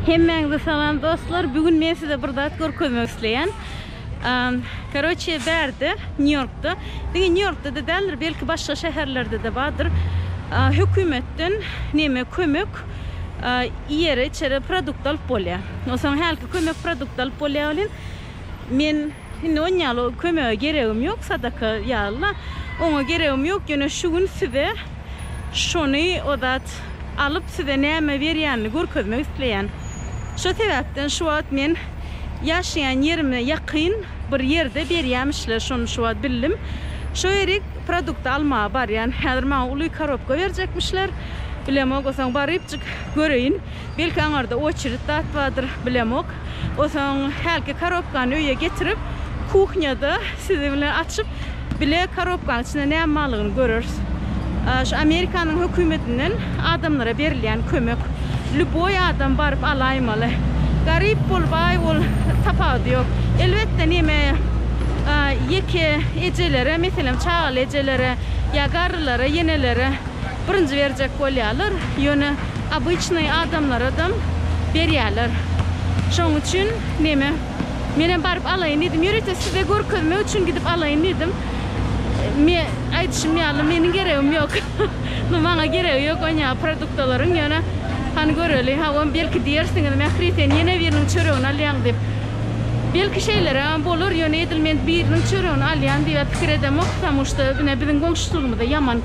Hemmäňizi salam dostlar. Bu gün men size bir zat görkezmek isleýän. Karoçe bärde, Nýu-Ýorkda, diňe Nýu-Ýorkda da däldir, belki başga şäherlerde de bardyr. Hökümetden näme kömek iýere-içere produkt alyp bolýar. Onsoň hälki kömek produkt alyp bolýar welin, men Indi on ýaly kömege geregim ýok sadaka ýalyla oňa geregim ýok ýöne şu gün size şony o zat alyp size näme berýänini görkezmek isleýän şo sebäpden şu wagt men ýaşaýan ýerime ýakyn bir ýerde berýämişler şony şu wagt bildim şo ýerik produkty almaga barýan häzir maňa uly karobka berjekmişler bilemok o soň barypjyk göreýin. Belki aňarda oçerit zat bardyr, bilemok. Osaň hälki karobkany öýe getirip, kuhnýada siziň bilen açyp, bile karobkanyň içinde näme barlygyny göreris. Şu Amerikanyň hökümetinden adamlara berilýän kömek. Lýuboý adam baryp alaýmaly. Garyp bol, baý bol, tapawudy ýok. Elbetde, neme, ýeke ejelere, meselem, çagaly ejelere ýa garrylara, ýenelere birinji berjek bolýarlar. Ýöne Obyçnyý adamlaradam berýärler. Şoň üçin neme, menem baryp alaýyn diýdim. Ýörite size görkezmek üçin gidip alaýyn diýdim. Me, aýdyşym ýaly, meniň geregim ýok. Nu, maňa geregi ýok onýaly produktalaryň, ýöne, hany göreli, hawa, belki diýersiňiz, Mähri, sen ýene biriniň çöregini alýaň diýip. Belki şeýlerägem bolar, ýöne edil men biriniň çöregini alýan diýibä pikir edemok, ptamuşda ine biziň goňşuçylygymyzda ýaman.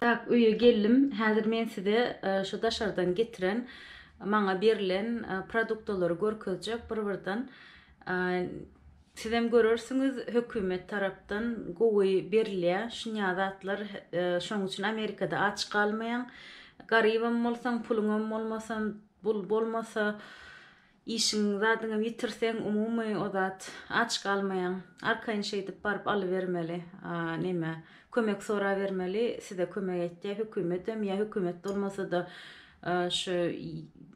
Tak öýe geldim. Häzir men size şu daşardan getiren maňa berlen produktalary görkezjek bir birden. Sizem görersiňiz hökümet tarapdan gowy berilýär. Şunýa zatlar şoň üçin Amerikada aç galmaýaň. Garybam bolsaň, puluňam bolmasa, bul bolmasa Işiňi zadyňy ýitirseň umumy o zat aç galmaýaň. Arkaýyn şeýdip baryp alybermeli a neme kömek sorabermeli size kömek etýä hökümetem ýa hökümet bolmasada şu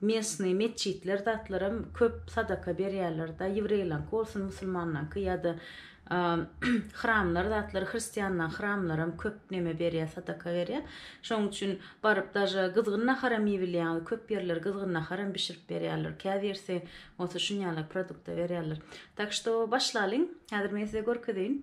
mesny metjitler zatlaram köp sadaka berýärlerde ýewreýlaňky bolsun musulmanlaňky ýada Hramlar zatlar hristianlaň hramlaram köp neme berýä sadaka berýä. Şoň üçin baryp daže gyzgyn naharam iýibilýä köp ýerler gyzgyn naharam bişirip berýärler. Käbirsi bolsa şun ýaly produkta berýärler. Tak şto başlalyň. Häzir men size görkezeýin.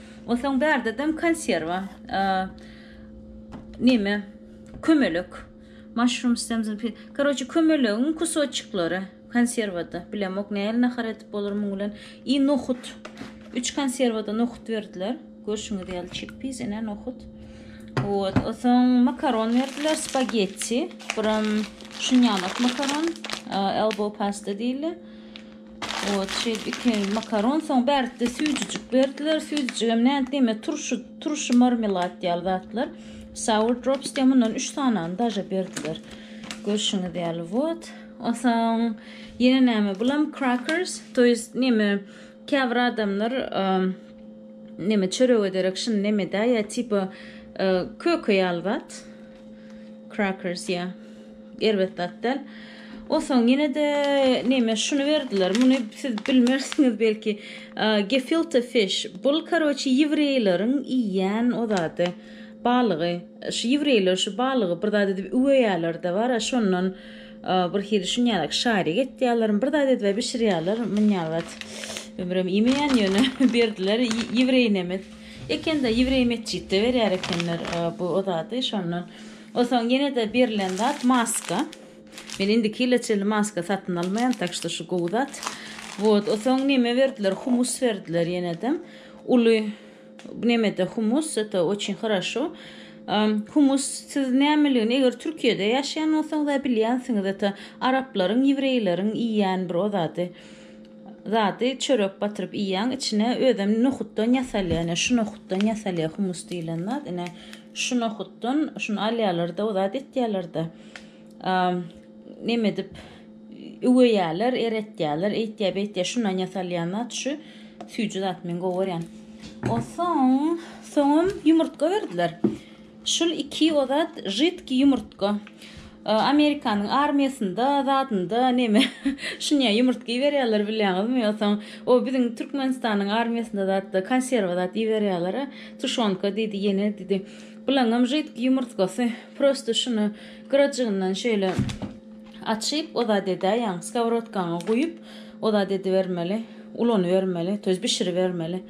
Onsoň bärde-dem konserwa, neme, kömelek, maşrum stem zn pi. Karoçe, kömelegiň kusoçiklary konserwada. Bilemok, nähili nahar edip bolar muň bilen. I nohut. Üç konserwada nohut berdiler. Görşüňiz ýaly çikpiz, ine nohut. Вот. Onsoň makaron berdiler, spagetti. Biram şunýanok makaron, elbow pasta diýilýär. Ot şeýdip iki makaron soň bärde süýjüjik berdiler. Süýjüjigem nädip diýme turşy, turşy marmelad ýaly zatlar. Sour drops diýen mundan 3 sanany daže berdiler. Görşüňiz ýaly wot. Onsoň ýene näme bulam crackers, to jest näme käbir adamlar näme çörege derek şuny näme-dä ýa tipa köke ýaly zat. Crackers ya. Erbet zat däl. Onsoň ýene-de näme şuny berdiler. Muny siz bilmersiňiz belki. Gefilte fish. Bul karoçi ýewreýleriň iýýän o zady. Balygy. Şu ýewreýler şu balygy bir zat edip üweýärler-de bar. Şondan bir hili şunýalak şarik etýärler. Bir zat edip bişirýärler. Munýalbat. Ömrüm iýmeýän ýöne berdiler ýewreýnemiz. Ekende ýewreý metjitde berýär ekenler bu zady şondan osoň ýenede berilen zat maska men indiki ýyla çenli maska satyn almaýan tak şto şu gowy zat wot osoň neme berdiler humus berdiler ýenede uly nemede humus eto oçin haraşo humus siz nämeligini eger türkiýede ýaşaýan bolsaňyz a bilýänsiňiz eto araplaryň ýewreýleriň iýýän bir o zady. zady çörek batyryp iýýäň içine özem nohutdan ýasalýar ine şu nohutdan ýasalýar humus diýilen zat ine şu nohutdan şuny alýarlarda o zat etýärlerde neme edip üweýärler eretýärler eýtýär beýtýär şundan ýasalýan zat şu süýji zat men gowy görýän o soň soňam ýumurtga berdiler Şul iki o zat jidki ýumurtga. Amerikanyň armiýasynda zadynda neme şunya ýumurtga iberýärler bilýäňizmi ýogsam o biziň Türkmenistanyň armiýasynda zatda konserwa zat iberýärlera tuşonka diýdi ýene diýdi bulaňam jidki ýumurtgasy prosto şuny gyrajygyndan şeýle Açyp, o zat edäýýäň, skowrodkaňa guýup, o zat edibermeli, ulanybermeli, to ýest bişiribermeli.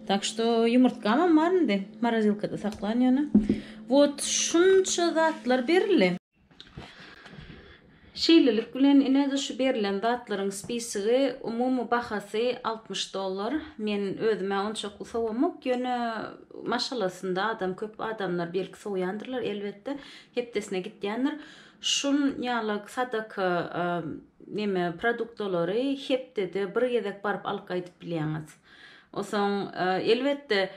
Tak što, ýumurtgamam bar indi, morozilkada saklan ýöne. Wot, şunça zatlar berildi. Şeýlelik bilen, ine-de şu berlen zatlaryň spisigi, umumy bahasy altmyş dollar. Men özüm-ä onçakly sowamok, ýöne maşgalasynda adam köp, adamlar belki sowýandyrlar, elbetde, hepdesine gitýändir. Şun ýalak sadaka neme produktalary hepdede bir gezek baryp alyp gaýdyp bilýäňiz. Osoň elbetde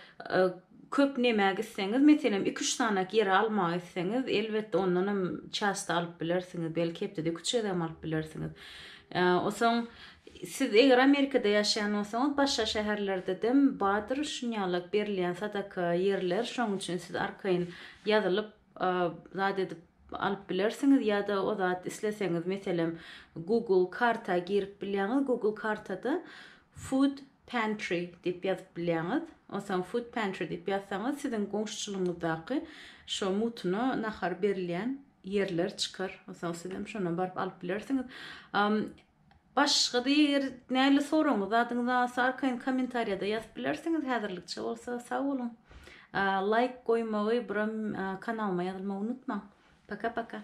köp nemä gitseňiz meselem iki-üç sanak ýere almaga gitseňiz elbetde ondan hem çasto alyp bilersiňiz belki hepdede iki-üç gezegem alyp bilersiňiz. Osoň siz eger Amerikada ýaşaýan bolsaňyz başga şäherlerdedem badyr şun ýalak berilýän sadaka ýerler şoň üçin siz arkaýyn ýazylyp zat edip alyp bilersiňiz ýa-da o zat isleseňiz meselem Google karta girip bilýäňiz Google kartada food pantry diýip ýazyp bilýäňiz. Onsoň food pantry diýip ýazsaňyz siziň goňşuçylygyňyzdaky şo mutuna nahar berilýän ýerler çykar. Onsoň siz hem şondan baryp alyp bilersiňiz. Başgada eger näle soragyňyz zadyňyz alsa arkaýyn komentariýada ýazyp bilersiňiz häzirlikçe bolsa sag boluň laýk goýmagy brom kanalyma ýazylmagy unutmaň paka paka.